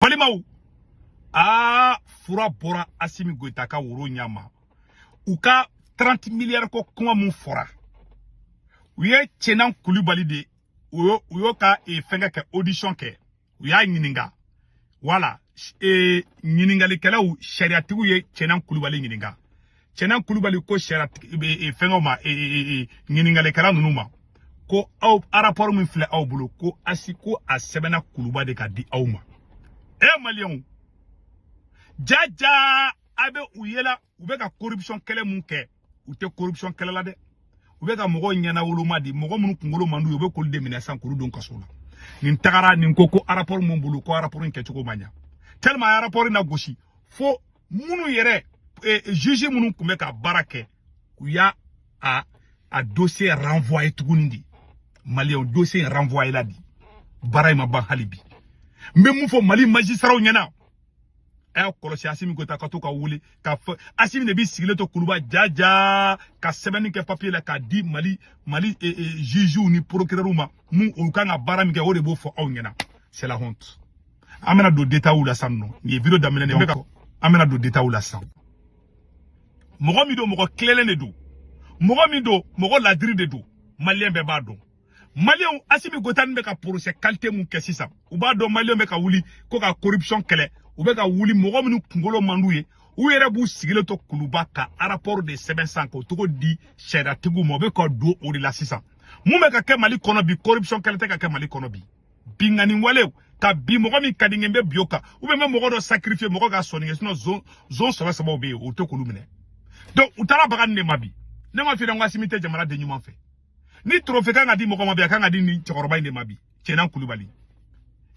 balimaw aa fura bɔra asimi goyita ka woro ɲɛ ma u ka 30 miliyari ko kuma min fɔra u ye cɛnan kulubali de u y'o ka e, fɛngɛ kɛ audition kɛ u y'a ɲininka wala e, ɲininkalikɛlaw sariyatigiw ye cɛnan kulubali ɲininka cɛnan kulubali ko sariya e, e, fɛngɛw ma e, e, e, ɲininkalikɛla ninnu ma ko aw arapɔri min filɛ aw bolo ko asi ko a sɛbɛnna kuluba de k'a di aw ma e maliyɛnw jaja a bɛ u ye la u bɛ ka corruption kɛlɛ mun kɛ u tɛ corruption kɛlɛ la dɛ u bɛ ka mɔgɔw ɲɛnawoloma de mɔgɔ minnu kunkolo man d'u ye u bɛ k'olu de minɛ sisan k'olu don kaso la nin tagara nin ko ko rapport mun bolo ko rapport in kɛcogo man ɲa tellement a rapport in nagosi fo minnu yɛrɛ eh, juge minnu tun bɛ ka baara kɛ u y'a a a dossier renvoyer tuguni de maliyɛnw dossier in renvoyer la de baara in ma ban hali bi n bɛ mun fɔ mali majisiraw ɲɛna a y'a kɔlɔsi asimi goyita ka to ka wuli ka fɔ asimi de b'i sigilen to kuluba jaja ka sɛbɛnni kɛ papiye la k'a di mali mali e, e, jugew ni procureurw ma mun olu kan ka baara min kɛ o de b'o fɔ aw ɲɛna c'est la honte an bɛna don détailw la sinon nin ye video daminɛ de bɛ ka an bɛna don détailw la san mɔgɔ min don mɔgɔ tilennen de don mɔgɔ min don mɔgɔ ladiri de don maliyɛn bɛɛ b'a dɔn maliyɛnw asimi goyita ninnu bɛ ka porosɛ kalite mun kɛ sisan u b'a dɔn maliyɛnw bɛ ka wuli ko ka koripsiyɔn kɛlɛ u bɛ ka wuli mɔgɔ minnu kunkolo man d'u ye u yɛrɛ b'u sigilen to kuluba ka arapɔri de sɛbɛn san k'o cogo di sariyatigiw ma u bɛ ka don o de la sisan mun bɛ ka kɛ mali kɔnɔ bi koripsiyɔn kɛlɛ tɛ ka kɛ mali kɔnɔ bi binkanni walew ka bin mɔgɔ min ka di n ye n bɛ bin o kan u bɛ mɔgɔ dɔ sakirifiye mɔgɔ ka sɔnni kɛ sinɔn zon zon sɛbɛ sɛbɛw bɛ yen u tɛ k'olu minɛ donc u taara baga nin de ma bi ne m'a f'i ɲɛna ko asimi tɛ jamanaden ɲuman fɛ ni trophée kan ka di mɔgɔ ma bi a kan ka di nin cɛkɔrɔba in de ma bi cɛnan kulubali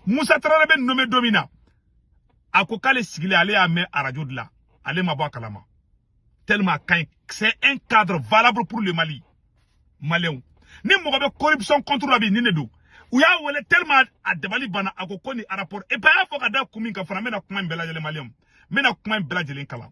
musa tarawele b'a nome don min na a ko k'ale sigilen ale y'a mɛn arajo de la ale ma bɔ a kalama tellement a ka ɲi c'est un cadre valable pour le mali maliyɛnw ni mɔgɔ bɛ corruption contre la bi nin de don u y'a wele tellement a dabali banna a ko ko nin rapport et puis a y'a fɔ ka da kun min kan fana n bɛna kuma in bɛɛ lajɛlen maliyɛnw n bɛna kuma in bɛɛ lajɛlen kalan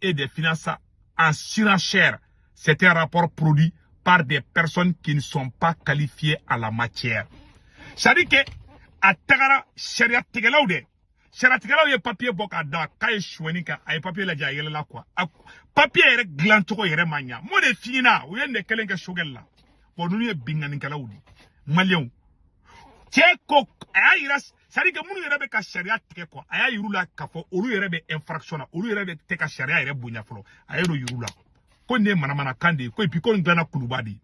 et des finances en surenchère. C'est un rapport produit par des personnes qui ne sont pas qualifiées à la matière. C'est-à-dire que a tagara sariya tigɛlaw de sariya tigɛlaw ye papiye bɔ k'a da k'a ye suɲɛni kɛ a ye papiye lajɛ a yɛlɛla quoi a papiye yɛrɛ dilancogo yɛrɛ ma ɲa n b'o de f'i ɲɛna u ye nin de kelen kɛ sogɛli la bɔn ninnu ye binkannikɛlaw de maliyɛnw cɛ ko a y'a yira c'est à dire que minnu yɛrɛ bɛ ka sariya tigɛ quoi a y'a yira u la k'a fɔ olu yɛrɛ bɛ infraction na olu yɛrɛ bɛ tɛ ka sariya yɛrɛ bonya fɔlɔ a y'o yira u la ko nin ye manamanakan de ye ko epi ko nin dilanna kuluba de ye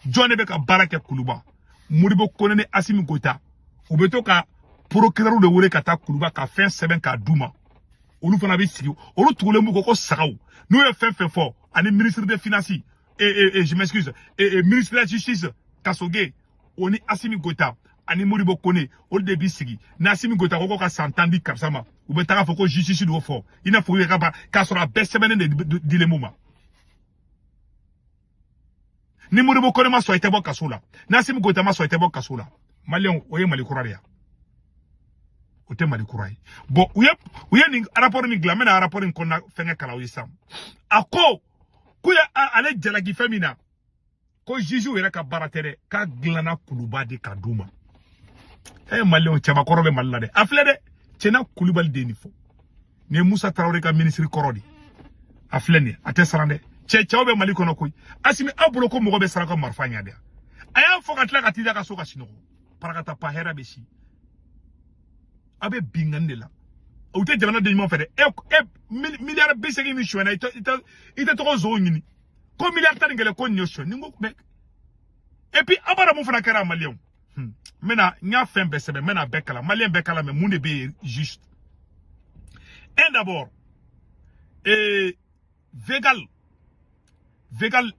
jɔn de bɛ ka baara kɛ kuluba modibo kone ni asimi goyita u bɛ to ka procureur de wele ka taa kuluba ka fɛn sɛbɛn k'a d'u ma olu fana bɛ sigi olu tugulen b'u kɔ ko sagaw n'u ye fɛn fɛn fɔ ani ministre de finance et, et, et je m'excuse et, et ministre de la justice kasoge o ni asimi goyita ani modibo kone olu de b'i sigi ni asimi goyita ko ko ka san tan di karisa ma u bɛ taa k'a fɔ ko justice d'o fɔ i n'a fɔ u yɛrɛ ka ba k'a sɔrɔ a bɛɛ sɛbɛnnen de dilen b'u ma ni modibo kone ma sɔn i tɛ bɔ kaso la ni asimi goyita ma sɔn i tɛ bɔ kaso la maliyɛnw o ye mali kura de ye o tɛ mali kura ye bɔn u ye u ye nin rapport min dilan n bɛna rapport in kɔnɔna fɛngɛ kalan aw ye sisan a ko k'u ye ale jalaki fɛn min na ko jugew yɛrɛ ka baara tɛ dɛ k'a dilanna kuluba de k'a d'u ma e ye maliyɛnw cɛbakɔrɔ bɛ mali la dɛ a filɛ dɛ cɛna kulubali de ye nin fɔ nin ye musa tarawele ka minisiri kɔrɔ de ye a filɛ nin ye a tɛ siran dɛ cɛ cɛw bɛ mali kɔnɔ koyi asimi aw bolo ko mɔgɔ bɛ siran aw ka marifa ɲɛ de yan a y'a fɔ ka tila ka t'i da a ka so ka sinɔgɔ parakata pa hɛrɛ bɛ si aw bɛ binkanni de la u tɛ jamana den ɲuman fɛ dɛ e e miliyari bi seegin min sonyɛna i tɛ i tɛ t'o nson ɲini ko miliyari tan ni kelen ko nin y'o sonyɛ nin ko bɛɛ et puis abada mun fana kɛra maliyɛnw n bɛna n y'a fɛn bɛɛ sɛbɛn n bɛna bɛɛ kalan maliyɛn bɛɛ k'a lamɛn mun de bɛ yen juste un d'abord ee vegal vegal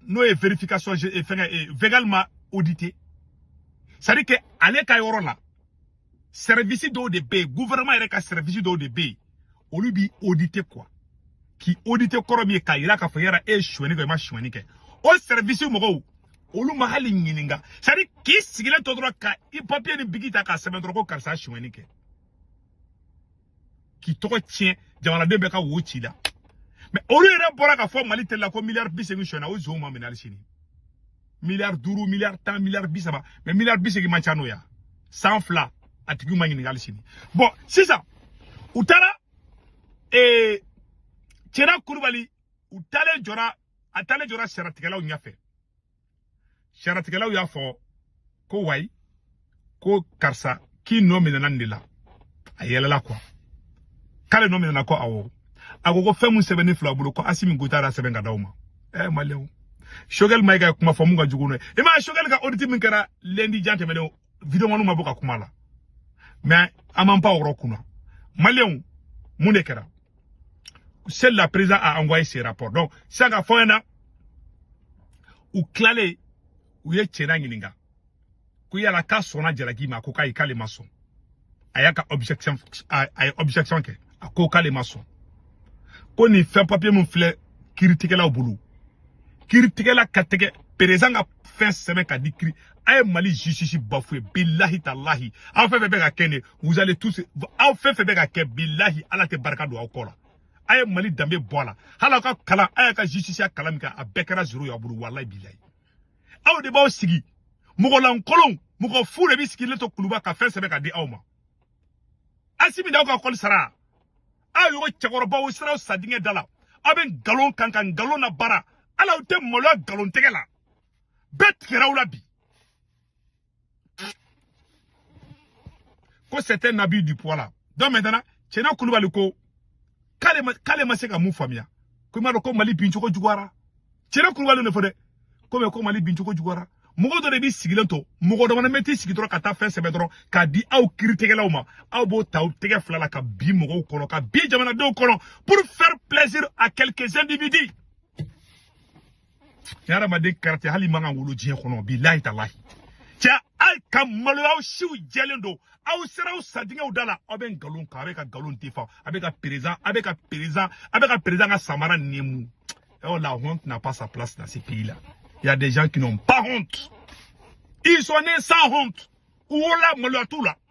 n'o ye verification fɛngɛ vegal m'a audité c'est à dire que ale ka yɔrɔ la service dɔw de bɛ yen gouvernement yɛrɛ ka service dɔw de bɛ yen olu b'i auditer quoi k'i auditer kɔrɔ min ye k'a jira k'a fɔ yala e ye sonyani kɛ i ma sonyani kɛ o service mɔgɔw olu ma hali ɲininka c'est à dire k'i sigilen to dɔrɔn ka i papier ni bigi ta k'a sɛbɛn dɔrɔn ko karisa sonyani kɛ k'i tɔgɔ tiɲɛ jamanaden bɛɛ ka wo ci i la mɛ olu yɛrɛ bɔra k'a fɔ mali tele la ko miliyari bi segin sonyɛna o zonw ma minɛ hali sini miliyari duuru miliyari tan miliyari bi saba mɛ miliyari bi segin man ca n'o y'a san fila a tigiw ma ɲininka hali sini bɔn sisan u taara ee cɛna kulubali u taalen jɔra a taalen jɔra sariyatigɛlaw ɲɛfɛ sariyatigɛlaw y'a fɔ ko wayi ko karisa k'i nɔ minɛna nin de la a yɛlɛla quoi k'ale nɔ minɛna ko awɔ a ko ko fɛn min sɛbɛnnen filɛ aw bolo ko asimi goyita y'a sɛbɛn k'a d'aw ma ɛɛ maliyɛnw sogɛli mayiga kuma fɔ mun ka jugu n'o ye i m'a ye sogɛli ka oditi min kɛra lɛndi jan tɛmɛnen videomaniw ma bɔ ka kuma a la mɛ an m'an pan o yɔrɔ kunna maliyɛnw mun de kɛra c'est la président a envoyé ses rapports donc sisan ka fɔ na u tilalen u ye cɛna ɲininka ko yala k'a sɔnna jalaki ma ko k'ayi k'ale ma sɔn a y'a ka objection a ye objection kɛ a ko k'ale ma sɔn ko nin fɛn papiye min filɛ kiritigɛlaw bolo kiritigɛla ka tɛgɛ perezidan ka fɛn sɛbɛn ka di kiri a ye mali justice bafouer bilahi talahi aw fɛn fɛn bɛ ka kɛ nin vous allez tous aw fɛn fɛn bɛ ka kɛ bilahi ala tɛ barika don aw kɔ la a ye mali danbe bɔ a la hali aw ka kalan a y'a ka justice kalan min kɛ a bɛɛ kɛra zéro y'a bolo walayi bilayi aw de b'aw sigi mɔgɔlankolon mɔgɔ fu de b'i sigilen to kuluba ka fɛn sɛbɛn ka di aw ma asimi d'aw ka kɔli sara aw ɲɔgɔn cɛkɔrɔbaw sera aw sadingɛ da la aw bɛ nkalon kan ka nkalon nabaara ala aw tɛ maloya nkalontigɛla bɛɛ tigɛra aw la bi ko c'était un abus du pouvoir là donc maintenant Cɛna Kulubali ko k'ale ma k'ale ma se ka mun faamuya ko i m'a dɔn ko Mali bincogo juguyara Cɛna Kulubali de fɔ dɛ ko mɛ ko Mali bincogo juguyara mɔgɔ dɔ de b'i sigilen to mɔgɔ dɔ fana bɛ t'i sigi dɔrɔn ka taa fɛn sɛbɛn dɔrɔn k'a di aw kiritigɛlaw ma aw b'o ta aw tɛgɛ fila la ka bin mɔgɔw kɔnɔ ka bin jamanadenw kɔnɔ pour faire plaisir à quelques individus nin hadamaden kalite hali man kan wolo diɲɛ kɔnɔ bilahi talahi cɛ ayi ka maloya aw siw jɛlen don aw sera aw sadingɛw da la aw bɛ nkalon kan a bɛ ka nkalon de fɔ a bɛ ka perezidan ka samara nɛmu oh la honte n'a pas sa place dans ce pays là il y a des gens qui n'ont pas honte ils sont nés sans honte u wolola maloya t'u la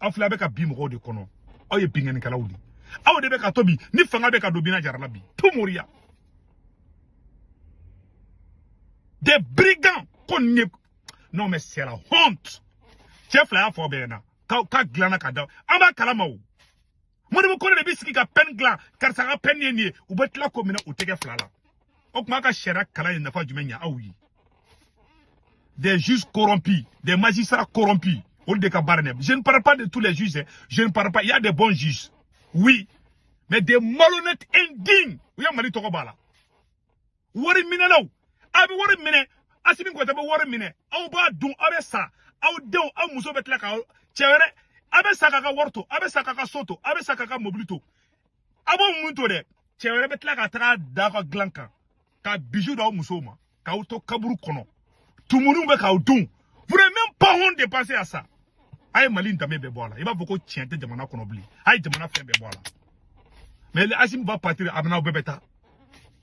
aw filɛ a bɛ ka bin mɔgɔw de kɔnɔ aw ye binkannikɛlaw de aw de bɛ ka to bi ni fanga bɛ ka don bina jarala bi to moriya des brigands ko nin ye non mais c'est la honte cɛ fila y'a fɔ bɛɛ ɲɛna k'a dilanna ka da an b'a kalama o moribo kolo de b'i sigi ka peine dilan karisa ka peine ye nin ye u bɛ tila k'o minɛ u tɛgɛ fila la o tuma ka sariya kalan ye nafa jumɛn ɲɛ aw ye des juges corrompus des magistrats corrompus olu de ka baara dɛ je ne parle pas de tous les juges je ne parle pas il y a des bons juges oui mais des malhonnêtes indignes u ye mali tɔgɔ bɔ a la wari minɛlaw a bɛ wari minɛ asimi goyita bɛ wari minɛ aw b'a dun aw bɛ sa aw denw aw muso bɛ tila ka cɛ wɛrɛ a bɛ sa k'a ka wari to a bɛ sa k'a ka so to a bɛ sa k'a ka mobili to a b'o mun to dɛ cɛ wɛrɛ bɛ tila ka taga da aw ka dilan kan ka bisou d'aw musow ma k'aw to kaburu kɔnɔ tumunuw bɛ k'aw dun vous n'avez même pas honte de penser à ça a ye mali danbe bɛɛ bɔ a la i b'a fɔ ko tiɲɛ tɛ jamana kɔnɔ bilen a ye jamana fɛn bɛɛ bɔ a la mais asimi va partir a bɛna aw bɛɛ bɛ taa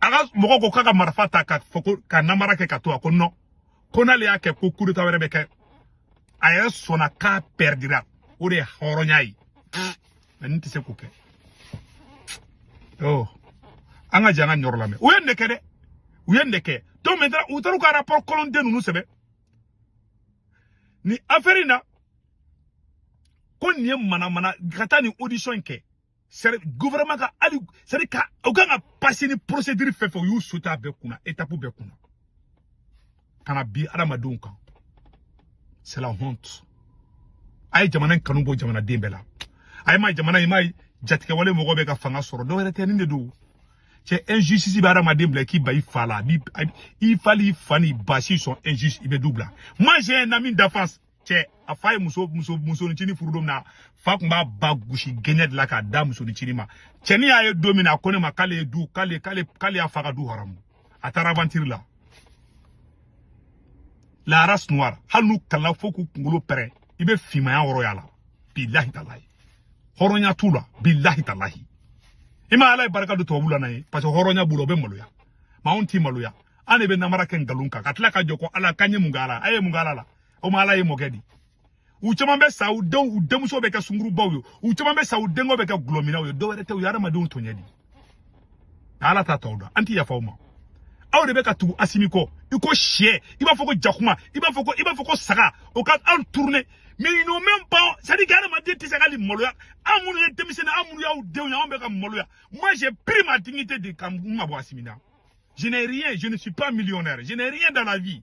a ka mɔgɔ ko k'a ka marifa ta ka fɔ ko ka namara kɛ ka to a ko non ko n'ale y'a kɛ ko kudeta wɛrɛ bɛ kɛ a yɛrɛ sɔnna k'a pɛridira o de ye hɔrɔnya ye mais ne tɛ se k'o kɛ oh. an ka jan ka ɲɔgɔn lamɛn u ye ne kɛ dɛ u ye ne kɛ donc maintenant u taar'u ka rapport kolon den ninnu sɛbɛn ni affaire in na ko nin ye manamana ka taa nin audition in kɛ sari gouvernement ka hali sari ka u kan ka passer ni procédure fɛn fɛn u y'u sauter a bɛɛ kunna étape bɛɛ kunna ka na bin adamadenw kan c'est la honte a ye jamana in kanu bɔ jamanaden bɛɛ la a ye ma jamana in ma jatigɛwale mɔgɔ bɛ ka fanga sɔrɔ dɔwɛrɛ tɛ nin de don cɛ injustice bɛ adamaden bila k'i ban i fa la i fa n'i fa n'i ba s'ils sont injustes i bɛ du bila moi j'ai un ami d'enfance cɛ a fa ye muso muso ncinin furu don min na a fa tun b'a ba gosi kɛnɛ de la k'a da muso ncinin ma cɛnin y'a ye don min na a ko ne ma k'ale ye du k'ale k'ale k'ale y'a fa ka du haramu a taara aventure la la race noire hali n'u kalanna fo k'u kunkolo pɛrɛn i bɛ finmaya yɔrɔ y'a la bilahi talahi hɔrɔnya t'u la bilahi talahi i ma ala ye barika don tubabu la n'a ye parce que hɔrɔnya b'u la u bɛ maloya mais anw ti maloya an de bɛ namara kɛ nkalon kan ka tila ka jɔ ko ala k'an ye mun kɛ ala a ye mun kɛ ala la o ma ala ye mɔkɛ di u caman bɛ sa u denw u denmuso bɛ kɛ sungurubaw ye u caman bɛ sa u denkɛ bɛ kɛ dɔlɔminnaw ye dɔwɛrɛ tɛ u ye adamadenw tɔɲɛ de ala t'a tɔw dɔn an tɛ yafa u ma aw de bɛ ka tugu asimi kɔ i ko syɛ i b'a fɔ ko jakuma i b'a fɔ ko i b'a fɔ ko saga o ka anw tourner mais ils n'ont même pas c'est-à-dire que adamaden tɛ se ka hali maloya an minnu ye denmisɛnnin an minnu y'aw denw ye anw bɛ ka maloya moi j'ai pris ma dignité de ka n mabɔ asimi na je n'ai rien je ne suis pas millionnaire je n'ai rien dans la vie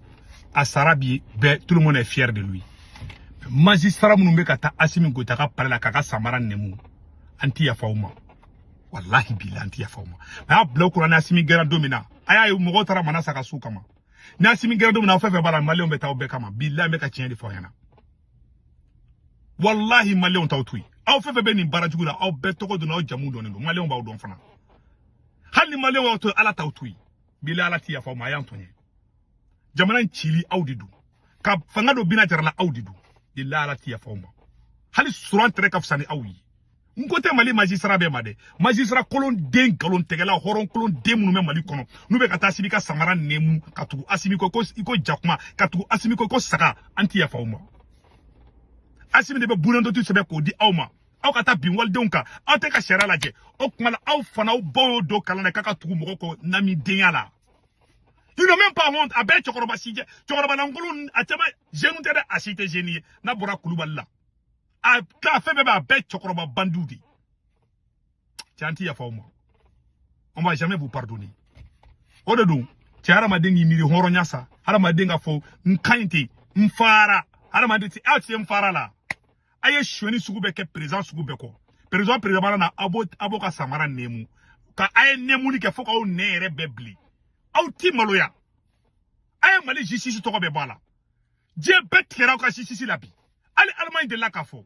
a sara bi bɛɛ tout le monde est fier de lui magistrat minnu bɛ ka taa asimi goyita ka palais la k'a ka samara nɛmu an tɛ yafa u ma walahi bilahi an tɛ yafa u ma mais a bila u kunna ni asimi gɛnna don min na a y'a ye mɔgɔw taara manasa ka so kama ni asimi gɛnna don min na aw fɛn fɛn b'a la maliyɛnw bɛ taa aw bɛɛ kama bilahi n bɛ ka tiɲɛ de fɔ aw ɲɛna walahi maliyɛnw t'aw to yen aw fɛn fɛn bɛ nin baara jugu la aw bɛɛ tɔgɔ dɔn aw jamu dɔnnen don maliyɛnw b'aw dɔn fana hali ni maliyɛnw y'aw to yen ala t'aw to yen bilahi ala ti yafa aw ma a y'an tɔɲɛ jamana in cili aw de don ka fanga dɔ bina jarala aw de don bilahi ala ti yafa aw ma hali suran tere ka fisa ni aw ye n ko tɛ mali magistrat bɛɛ ma dɛ magistrat kolon den nkalon tigɛla hɔrɔn kolon den minnu bɛ mali kɔnɔ n'u bɛ ka taa asimi ka samara nɛmu ka tugu asimi kɔ i ko jakuma ka tugu asimi kɔ i ko saga an ti yafa aw ma asimi de bɛ bunadɔtu sɛbɛn k'o di aw ma aw ka taa bin walidenw kan aw tɛ ka sariya lajɛ o tuma na aw fana aw baw y'o don kalan na k'a ka tugu mɔgɔ kɔ ɲamɔgɔdenya la ils n'ont même pas honte a bɛɛ cɛkɔrɔba si jɛ cɛkɔrɔba lankolon a caman jeune tɛ dɛ a si tɛ jeune ye n'a bɔra kulubali la a ka fɛn bɛɛ b'a bɛɛ cɛkɔrɔba bandiw de cɛ an ti yafa aw ma on va jamais vous pardonner o de don cɛ hadamaden k'i miiri hɔrɔnya sa hadamaden ka fɔ n ka ɲi ten n fara hadamaden ti aw ti se n fara la a ye suɲɛni sugu bɛɛ kɛ président sugu bɛɛ kɔ président président mana na a b'o ka samara nɛmu ka a ye nɛmuni kɛ fo k'aw nɛn yɛrɛ bɛɛ bilen aw ti maloya a ye mali justice tɔgɔ bɛɛ bɔ a la diɲɛ bɛɛ tigɛra aw ka justice la bi hali alimaɲi delila k'a fɔ